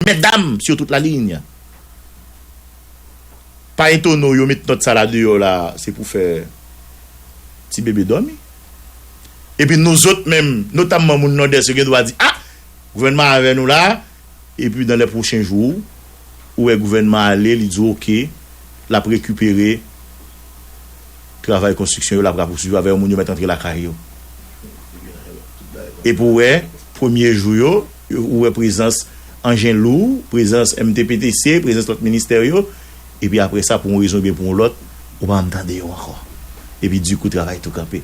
Medam sur toute la ligne pa etone w yo met nòt sa la deyò la se pou fè ti bebe dòmi. Epi nou zòt menm notamman moun Nòdès yo gen dwa di ah gouvènman an avè nou la epi dan lè pwochen jou ou wè gouvènman ale li di w ok l ap rekipere travay konstriksyon yo l ap rapousuiv avè yo moun yo mèt antre lakay yo epi w wè premye jou yo. Ou wè prezans anjen lou, prezans MTPTC, prezans lòt ministè yo, epi apre sa pou yon rezon oubyen pou yon lòt, ou pa janm tande yo ankò. Epi di kou travay tou kanpe.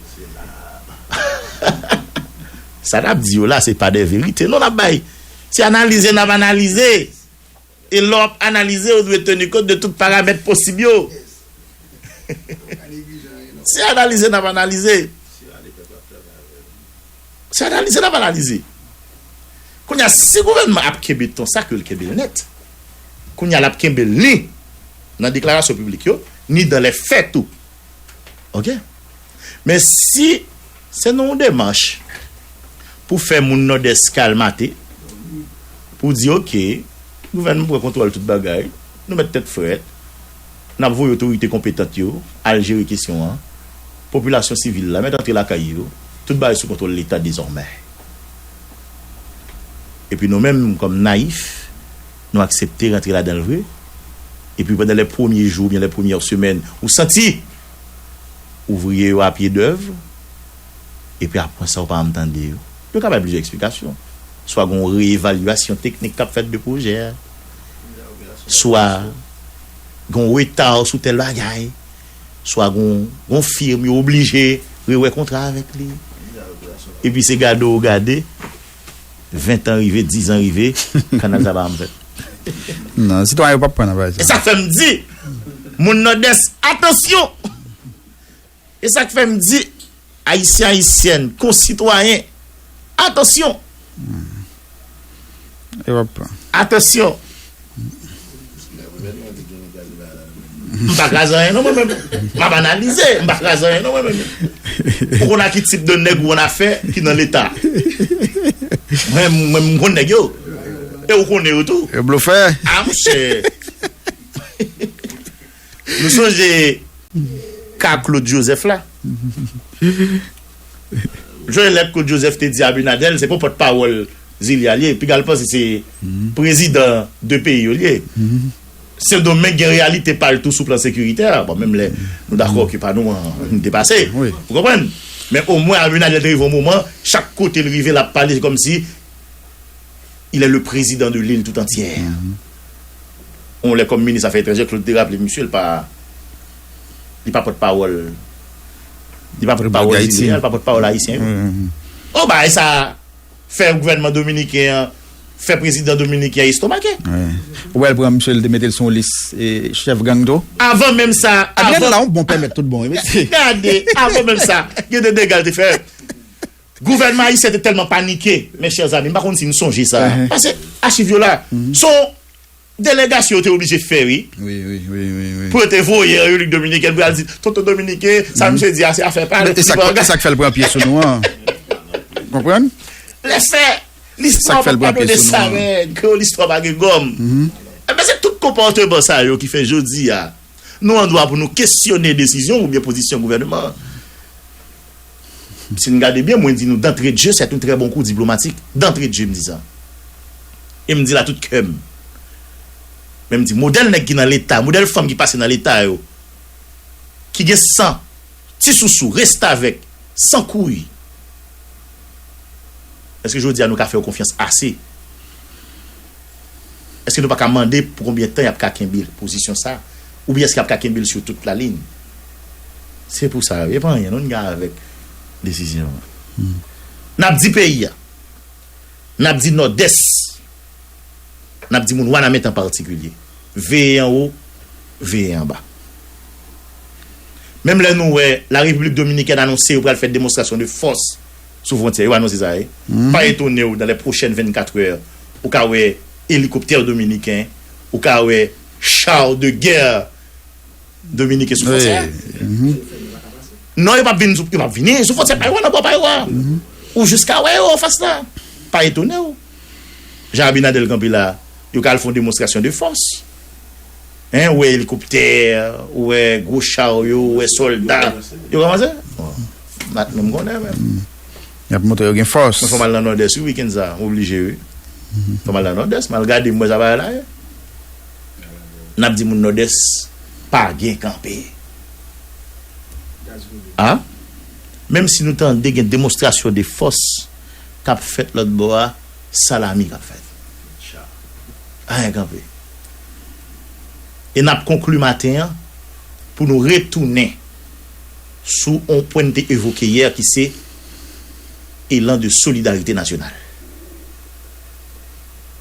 Sa n ap di yo la se pa de verite non n ap bay. Se analize n ap analize. E lè w ap analize, ou dwe teni kont de tout paramèt posib yo. Se analize n ap analize. Se analize n ap analize. Kounye a, si gouvènman ap kenbe ton sa, ke l kenbe l nèt. Kounye a, l ap kenbe l ni nan deklarasyon piblik yo, ni dan lè fè tou. Ok. Men si se nan yon demach pou fè moun Nòdès kalmate, pou di ok, gouvènman pran kontwòl tout bagay, nou mèt tèt frèt, n ap voye otorite konpetant yo al jere kesyon an, popilasyon sivil la mèt antre lakay yo, tout bagay sou kontwòl Leta dezòmè. Epi nou menm kòm nayif. Nou aksepte rantre ladan l vre. Epi pandan lè premye jou oubyen lè premyè semèn ou santi ouvriye yo a pye dèv. Epi apwan sa ou pa anm tande yo. Yo ka bay plizyè eksplikasyon. Swa gen yon reyevalyasyon teknik kap fèt de pwojè a. Swa gen yon reta sou tèl bagay. Swa gen yon firm yo oblije rewè kontra avèk li. Epi se gade ou gade. 20 tan rive, 10 zan rive, kanal sa pa janm fèt. Non, sitwayen yo pap pran nan bagay sa. E sa fèm di moun Nòdès atansyon! E sak fèm di Ayisyen Ayisyèn, konsitwayen, atansyon! Yo pap pran. Atansyon! M pa kraze anyen non mwen menm. M ap analize, m pa kraze anyen non mwen menm. Ou konn a ki tip de nèg ou ann afè ki nan leta. Mwen menm m konn nèg yo. E ou konnen yo tou. Yo blofè. A mouche. Nou sonje ka Claude Joseph la. Jwenn lèt Claude Joseph te di Abinadel se pou pòt pawòl Zilia li ye. Piga l panse se prezidan 2 peyi yo li ye. Sendomeng gen reyalite pa l tou sou plan sekiritè. Bon menm lè nou dakò ke pa nou an depase. Ou konprann? Men omwen Abinadel te rive yon moman chak kote l rive l ap pale se kòmsi Il est le prezidan de lil tout antyè. On lè kòm minis afè etranjè Claude te raple misye l pa li pa pòt pawòl li pa pòt pawòl zile a li pa pòt pawòl ayisyen yo. Oh bagay sa fè gouvènman dominiken an fè prezidan dominiken an estomake. Ou wè l pran misye l te mete l sou yon lis chèf gang tou. Avan menm sa avan. Adriano la yon bon pèmèt tout bon wi mesye. Gade avan menm sa gen de dega l te fè. Gouvènman ayisyen te tèlman panike, mes chers amis, m pa konn si nou sonje sa, pase achiv yo la, se yon delegasyon yo te oblije fè wi, pou yo te voye an Repiblik Dominikèn pou y al di tonton dominiken sa misye di a se afè pa l, li pa angaje. E sa k fè l pran pye sou nou an. Ou konprann? Lèse, listwa pa padone sa règ, kreyòl listwa pa gen gòm. Enben se tout konpòteman sa yo ki fè jodi a nou an dwa pou nou kesyone desizyon oubyen pozisyon gouvènman an. Si n gade byen, mwen di nou dantredje sèt yon trè bon kou diplomatik. Dantredje m di sa. E m di l a tout kè m. Men m di modèl nèg ki nan Leta, modèl fanm ki pase nan Leta yo, ki gen san, ti sousou, restavèk, san kouy, èske jodi a nou ka fè yo konfyans ase? Èske nou pa ka mande pou konbyen tan y ap ka kenbe pozisyon sa a? Oubyen èske y ap ka kenbe l sou tout lalin? Se pou sa yo. E pa anyen non n gen avèk desizyon an. N ap di peyi a. N ap di Nòdès. N ap di moun Wanament an patikilye. Veye anwo, veye anba. Menm lè nou wè Larepiblik Dominikèn anonse yo pral fè demonstrasyon de fòs. sou fwontyè yo anonse sa e pa etonew dan lè pwochèn 24 è ou ka wè elikoptè dominiken ou ka wè char de guerre dominiken sou fwontyè a non yo pap vin sou fwontyè pa yo a nan bò pa yo a ou jis ka wè yo anfas la pa etonew. Jan abinadel kanpe la yo ka al fon demonstrasyon de fòs hein ou wè elikoptè ou wè gwo charyo ou wè sòlda yo komanse bat menm konnen menm yap montre yo gen fòs. Mwen fòm al nan nòdès wi weekend sa m oblije wi fòm al nan nòdès m al gade m wè sa bagay la ye nap di moun nòdès pa gen kanpe ah menm si nou tande gen demonstrasyon de fòs. kap fèt lòt bò a salami kap fèt anyen kanpe e nap konkli maten an pou nou retounen sou on pwen n te evoke yè ki se elan de solidarite nasyonal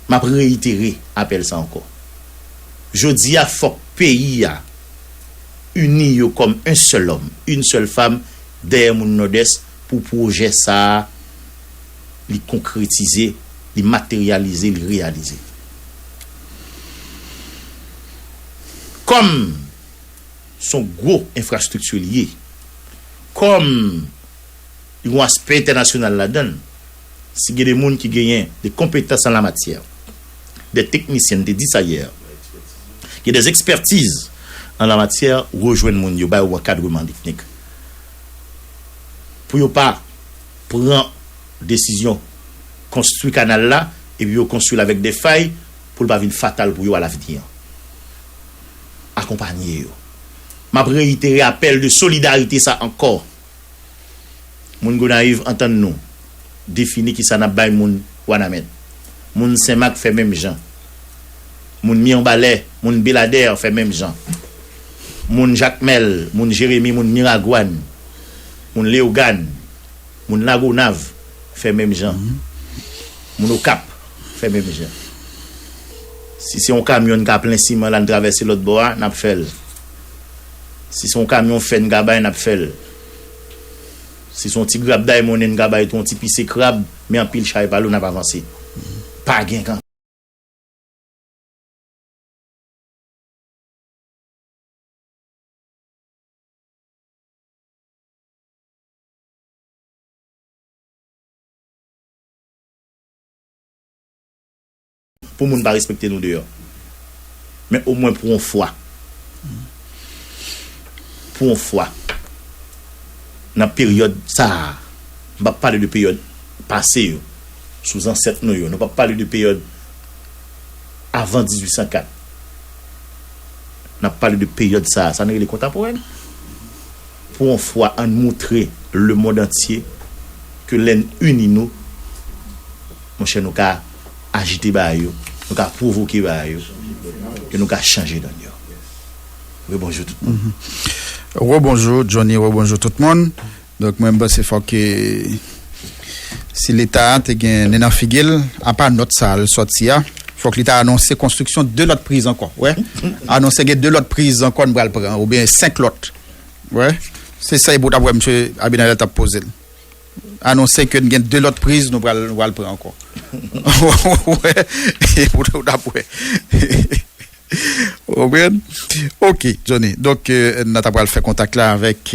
map reyitere apèl sa ankò jodi a fòk peyi a ini yo kòm un sèl òm, yn sèl fam dèyè moun nòdès pou pwojè sa a li konkretize, li materyalize, li reyalize. Kòm s on gwo enfrastrikti li ye, kòm li gen yon aspè entènasyonal ladan l, si gen de moun ki genyen de konpetans an la matyè, dè teknisyen, m te di sa yè, gen dè ekspètiz an la matyè, rejwenn moun yo, ba yo ankadreman teknik. pou yo pa pran desizyon konstwi kanal la epi yo konstwi l avèk de fay pou l pa vin fatal pou yo alavni an. Akonpanye yo. M ap reyitere apèl de solidarite sa ankò. Moun Gonayiv antann nou. defini kisa nap bay moun wanament moun senmak fè menm jan moun mirbalè moun beladèr fè menm jan moun jakmèl moun jeremi moun miragwàn moun leogàn moun lagonav fè menm jan moun okap fè menm jan si se yon kamyon n ka plen siman la n travèse lòt bò a nap fèl si se yon kamyon fè n ka bay nap fèl. Si son ti grab diamonde m ka bay tou yon ti pise krab men anpil chay pa lou nap avanse pa gen kan. Pou moun pa respekte nou deyò. Men o mwen pou on fwa. Pou on fwa. Nan peryòd sa a. M pap pale de peryòd pase yo. Sou zansèt nou yo. Nou pap pale de peryòd avan 1804. Nap pale de peryòd sa a. Sa nou rele kontaporèn. Pou on fwa an n moutre lemond antye. Ke lè n ini nou. Monchè nou ka. ajite ba yo, nou ka pwovoke ba yo, e nou ka chanje donn yo. Rebonjou tout moun. Rebonjou Johnny, rebonjou tout moun. Donk mwen mpanse fòk ke si leta te gen nen nan figi l, apa nòt sa l sòti a, fòk li ta anonse konstriksyon 2 lòt priz ankò. Ou wè? Anonse gen 2 lòt priz ankò n pral pran oubyen 5 lòt. Ou wè? Se sa e pou w ta wè msye Abinader t ap poze l. anonse ke n gen 2 lòt priz nou pral pran ankò. Ou wè? Ou t ap wè. Ou konprann? Ok, Johnny. Donk, n ata pral fè kontak la avèk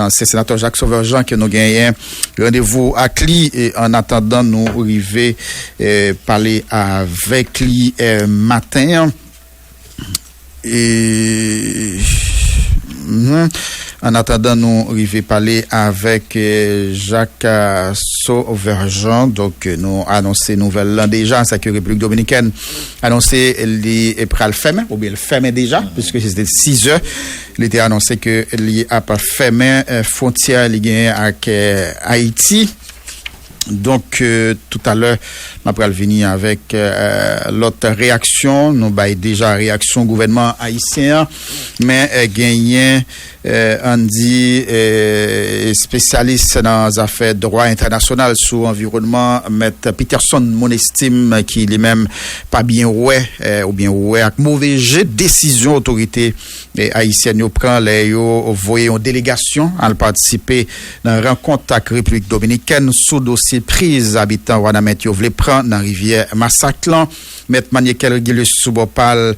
ansyen senatè Jacques Sauveur Jean ke nou genyen randevou ak li an atandan nou rive pale avèk li maten an. An atandan nou rive pale avèk Jacques Sauverjean, donk nou anonse nouvèl lan deja, sa ke Repiblik Dominikèn anonse li pral fèmen, oubyen li fèmen deja, piske se te 6 zè, li te anonse ke li ap fèmen fwontyè li genyen ak Ayiti. Donk tout a lè nan pral vini avèk lòt reyaksyon. Nou bay deja reyaksyon gouvènman ayisyen an. Men genyen ann di espesyalis nan zafè dwa entènasyonal sou anviwònman mèt Peterson Monestim ki li menm pa byen wè oubyen wè ak move je desizyon otorite Ayisyèn yo pran lè yo voye yon delegasyon al patisipe nan rankont ak Repiblik Dominikèn sou dosye priz abitan Wanament yo vle pran nan rivyè Masak lan. Mèt Maniekel Régilus sou bò pa l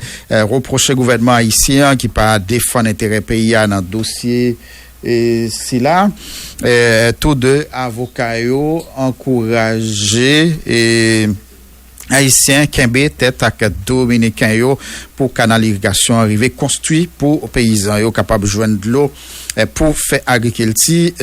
repwoche gouvènman ayisyen an ki pa defann enterè peyi a nan dosye sila. Tou 2 avoka yo ankouraje. Ayisyen kenbe tèt ak Dominiken yo pou kanal irigasyon an rive konstwi pou peyizan yo kapab jwenn dlo pou fè agrikilti.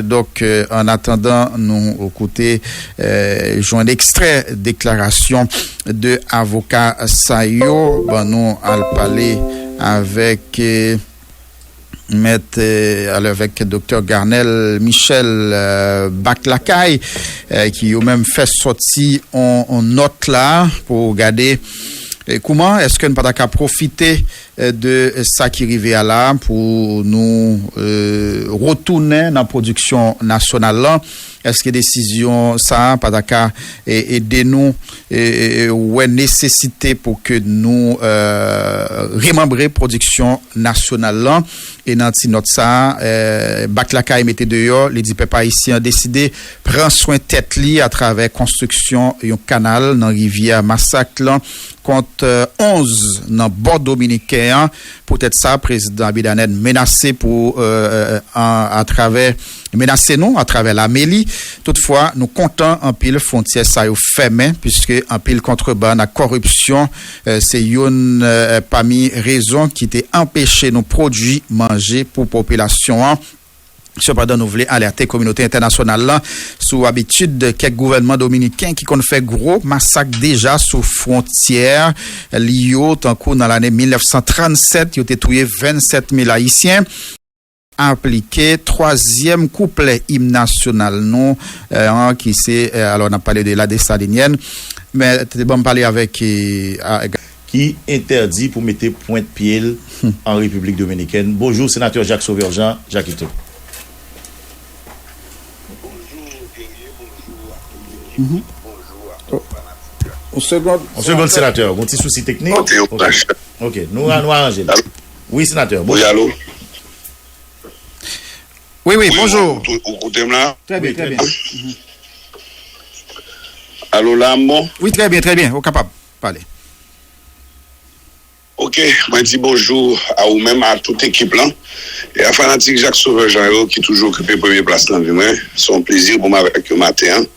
Donk, an atandan nou koute jwenn ekstrè deklarasyon 2 avoka sa yo, bannou al pale avèk. Mèt alèvèk Doktè Garnel Michel Back Lakay ki yo menm fè sòti yon nòt la pou gade kouman eske n pa ta ka pwofite de sa ki rive a la pou nou retounen nan pwodiksyon nasyonal lan, eske desizyon sa pa ta ka ede nou. wè nesesite pou ke nou remanbre pwodiksyon nasyonal lan. E nan ti nòt sa a, Bat Lakay mete deyò, li di pèp ayisyen an deside pran swen tèt li atravè konstriksyon yon kanal nan rivyè Masak lan, kont 11 nan bò dominiken an. Poutèt sa, Prezidan Abinader menase pou atravè. menase nou atravè lame li. Toutfwa, nou kontan anpil fwontyè sa yo fèmen puiske anpil kontrebann ak kòripsyon se youn pami rezon ki te anpeche nou pwodui manje pou popilasyon an. Sepandan, nou vle alète kominote entènasyonal la sou abitid kèk gouvènman dominiken ki konn fè gwo masak deja sou fwontyè li yo, tankou nan lane 1937 yo te touye 27 mil ayisyen. Aplike twazyèm kouplè im nasyonal nou an ki se alò n ap pale de La Dessalinienne men te ban m pale avèk a. Ki entèdi pou mete pwent pye l an Repiblik Dominikèn. Bonjou Senatè Jacques Sauveur Jean, Jackito. Bonjou Guerrier, bonjou ak tout ekip li, bonjou ak tout fanatik yo. Yon segond Senatè, gon ti sousi teknik. Ok, nou aranje l. Wi senatè. Wi alo. Wi wi bonjou. Ou koute m la? Trè byen trè byen. Alo la m bon? Wi trè byen trè byen ou kapab pale. Ok mwen di bonjou a ou menm a tout ekip lan e a fanatik Jak Sovè Jan yo ki toujou okipe premye plas nan vi mwen. Se yon plezi pou m avèk yo maten an.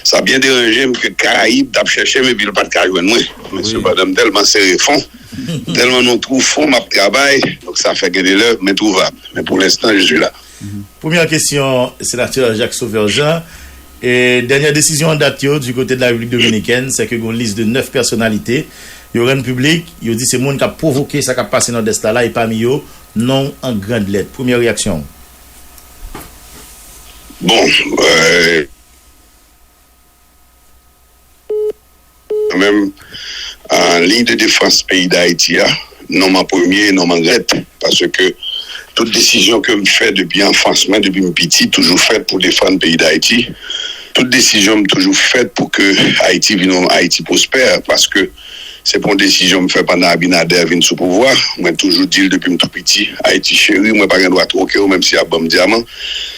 Sa byen deranje m ke Karayib t ap chèche m epi l pa t ka jwenn mwen men sepandan m tèlman sere fon. Tèlman nou twou fò map travay donk sa fè gen de lè m entwouvab men pou lenstan je suis la. Premyè kesyon Senatè Jacques Sauveur Jean, Dènyè desizyon an dat yo di kote de la Repiblik Dominikèn sèke gen yon lis de 9 pèsonalite yo rann piblik yo di se moun kap pwovoke sa kap pase Nòdès la la e pami yo non w an grand lèt. Premyè reyaksyon w? Bon. Kan menm liy de defans peyi dayiti a nonm an premye e nonm an rèt paske tout desizyon ke m fè depi anfans mwen depi m piti toujou fèt pou defann peyi dayiti tout desizyon m toujou fèt pou ke ayiti vin yon ayiti pwospè paske se pou yon desizyon m fè pandan abinadè vin sou pouvwa mwen toujou di l depi m tou piti ayiti cheri mwen pa gen dwa twoke w menm si y ap ban m dyaman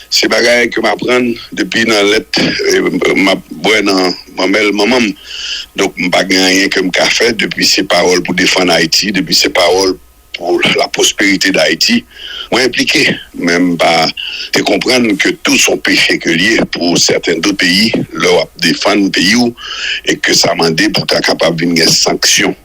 se bagay ke m aprann depi nan lèt m ap bwè nan. Manmèl manman m. Donk m pa gen anyen ke m ka fè depi se pawòl pou defann Ayiti, depi se pawòl pou la pwosperite dAyiti, mwen enplike. Men m pa te konprann ke tou s on peche ke l ye pou sèten do peyi lè w ap defann peyi w e ke sa mande pou ta kapab vin gen sanksyon.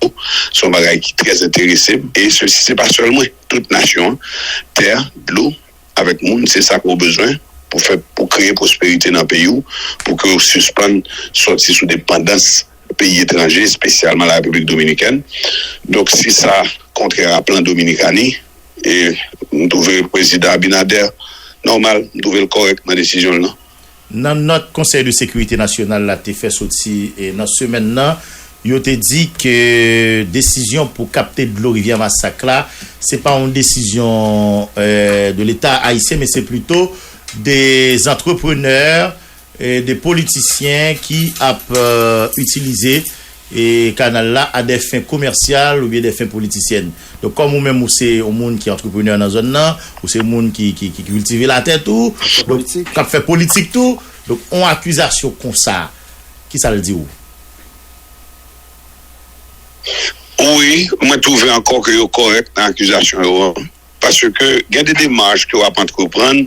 se yon bagay ki trè enterese m e sesi se pa sèl mwen, tout nasyon an, tè, dlo avèk moun se sa ke w bezwen pou fè, pou kreye pwosperite nan peyi w, pou ke w sispann sòti sou depandans peyi etranje, espesyalman la Repiblik Dominikèn. Donk si sa kontrè a plan Dominikani, e m twouve Prezidan Abinader nòmal, m twouve l kòrèk nan desizyon l lan. Nan nòt Konsèy de Sekirite Nasyonal la te fè soti nan semèn nan, yo te di ke desizyon pou kapte dlo Rivyè Masak la, se pa yon desizyon de leta ayisyen men se plito de antreprenè, de politisyen ki ap itilize e kanal la a dè fen komèsyal oubyen dè fen politisyèn. Donk kòm ou menm ou se yon moun ki antreprenè nan zòn nan, ou se moun ki kiltive latè tou, k ap fè politik tou, donk yon akizasyon konsa, ki sa l di ou? Wi, mwen twouve ankò ke yo kòrèk nan akizasyon yo an. Paske gen de demach ke w ap antreprann,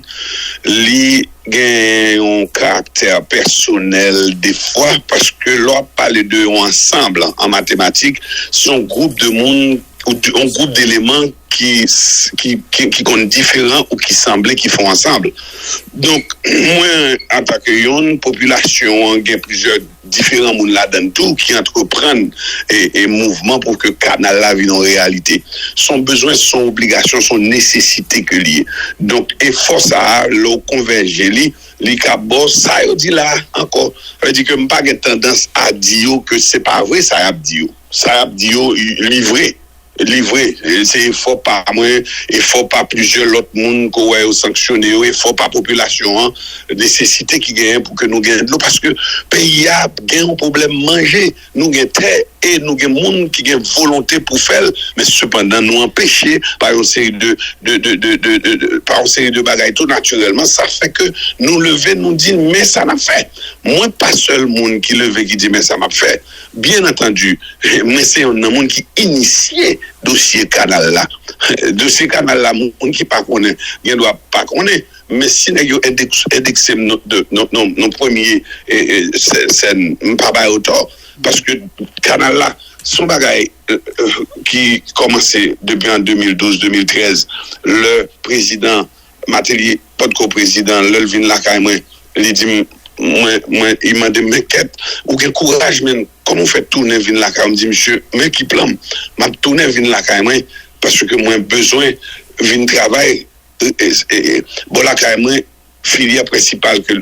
li gen yon karaktè pèsonèl defwa, paske lè w ap pale de yon ansanb an matematik, se yon gwoup de moun, yon gwoup deleman ki konn diferan ou ki sanble ki fè yon ansanb. Donk, mwen, antake yonn, popilasyon an gen plizyè. diferan moun ladan l tou ki antreprann mouvman pou ke kanal la vin yon reyalite. S on bezwen, s on obligasyon, s on nesesite ke li ye. Donk, efò sa a, lè ou konvèje li, li ka ba w sa yo di la a ankò. Sa vle di ke m pa gen tandans a di yo ke se pa vre sa y ap di yo. Sa y ap di yo, li vre. Li vre, se efò pa mwen, efò pa plizyè lòt moun ke w wè yo sanksyone yo, efò pa popilasyon an, nesesite ki genyen pou ke nou gen dlo paske peyi a gen yon pwoblèm manje. Nou gen tè e nou gen moun ki gen volonte pou fè l men sepandan nou anpeche pa yon seri de pa yon seri de bagay tou natirèlman sa fè ke nou leve nou di men sa n ap fè. Mwen pa sèl moun ki leve ki di men sa m ap fè. Byen antandi, mwen se yonn nan moun ki inisye dosye kanal la. Dosye kanal la moun ki pa konnen gen dwa pa konnen, men si nèg yo endekse m nan premye sèn, m pa ba yo tò paske kanal la se yon bagay ki kòmanse depi an 2012, 2013 lè prezidan. Mateli potko prezidan lèl vin lakay mwen li dim mwen mwen li mandem men kèt ou gen kouraj menn kòman ou fè tounen vin lakay ou mdi misye men ki planm map tounen vin lakay mwen paske mwen bezwen vin travay bò lakay mwen filyè prensipal ke.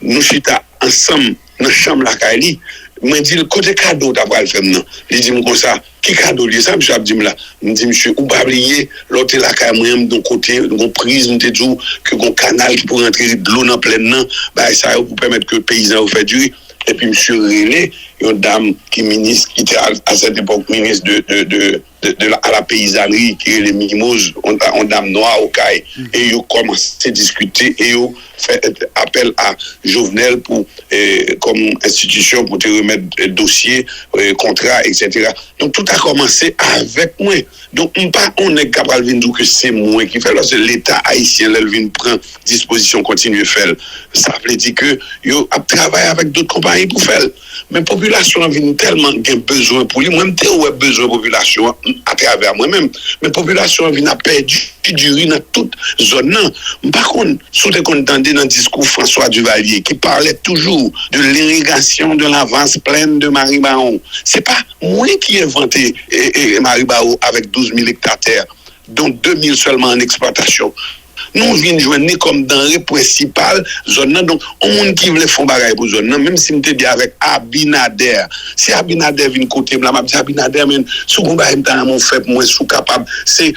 Nou chita ansanm nan chanm lakay li. Mwen di l, Kote kado w ta pral fè m nan? Li di m konsa, Ki kado l ye? Sa misye ap di m la? M di misye, Ou pa bliye, lè w te lakay mwen an, m gen yon kote, gen yon priz m te di w ke gen yon kanal ki pou rantre dlo nan plenn nan, bagay sa yo pou pèmèt ke peyizan yo fè diri. Epi misye rele yon dam ki minis, ki te a sèt epòk minis de. de a la peyizanri ki rele Mimoz, yon dam nwa Okay, e yo kòmanse diskite e yo fè apèl a Jovenel pou kòm enstitisyon pou te remèt dosye kontra eksetera. Donk tout a kòmanse avèk mwen. Donk m pa yon nèg ka pral vin di w ke se mwen ki fè l paske leta ayisyen lè l vin pran dispozisyon kontinye fè l sa vle di ke yo ap travay avèk dot konpayi pou fè l. Men popilasyon an vin tèlman gen bezwen pou li, mwen m te wè bezwen popilasyon an atravè mwen menm, men popilasyon an vin ap pèdi diri nan tout zòn nan. M pa konn si w te konn tande nan diskou François Duvalier ki palè toujou de l'irrigation de la vaste plaine de Maribawon. Se pa mwen ki envante Maribawon avèk 12 mil ekta tè, don 2 mil sèlman an eksplwatasyon. Nou vin jwenn li kòm danre prensipal zòn nan. Donk, yon moun ki vle fè yon bagay pou zòn nan, menm si m te di avèk Abinader, si Abinader vin kote m la, m ap di Abinader, men, si w gen yon bagay m ta renmen w fè pou mwen, si w kapab, se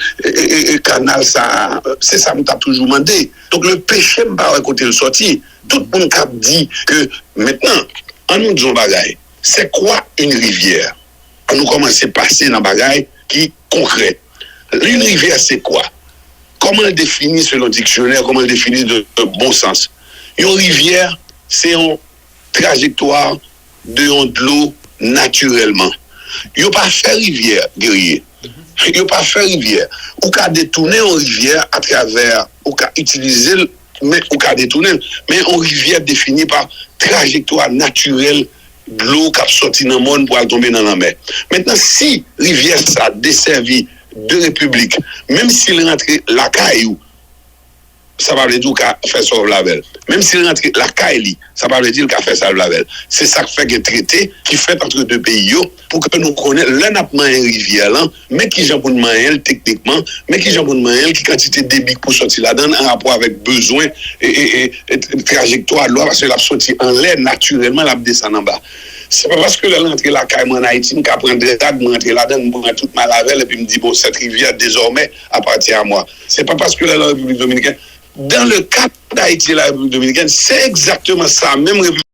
kanal sa a. Se sa m t ap toujou mande. Donk, le peche, m pa wè kote l sòti. Tout moun k ap di ke mentnan, an nou di yon bagay, c'est quoi une rivière? An nou kòmanse pase nan bagay ki. konkrè. Lil rivyè se kwa? Kòman l defini selon diksyonè, kòman l defini de bon sans? Yon rivyè se yon trajektwa de yon dlo natirèlman. Yo pa fè rivyè, Guerrier. Yo pa fè rivyè. Ou ka detounen yon rivyè atravè, ou ka itilize l, men ou ka detounen l. Men yon rivyè defini pa trajektwa natirèl Dlo k ap sòti nan mòn pou al tonbe nan lanmè. Mentnan, si rivyè sa desèvi de repiblik, menm si l rantre lakay ou, sa pa vle di ou ka fè sa w vle avè l. Menm si l rantre lakay li, sa pa vle di l ka fè sa l vle avè l. Se sa k fè gen trete ki fèt antre de peyi yo pou ke nou konnen lè n ap manyen rivyè lan, Men ki jan pou n manyen l teknikman, men ki jan pou n manyen l, ki kantite debi k pou sòti ladan l anrapò avèk bezwen trajektwa dlo a paske l ap soti anlè natirèlman l ap desann anba. Se pa paske lè l rantre lakay mwen ann Ayiti m ka pran drag mwen antre ladan l m pran tout mal avè l epi m di bon sèt rivyè dezòmè apati a mwa. Se pa paske lè l an Repiblik Dominikèn. Dans le cas d'Haïti et la République Dominicaine, c'est exactement ça menm.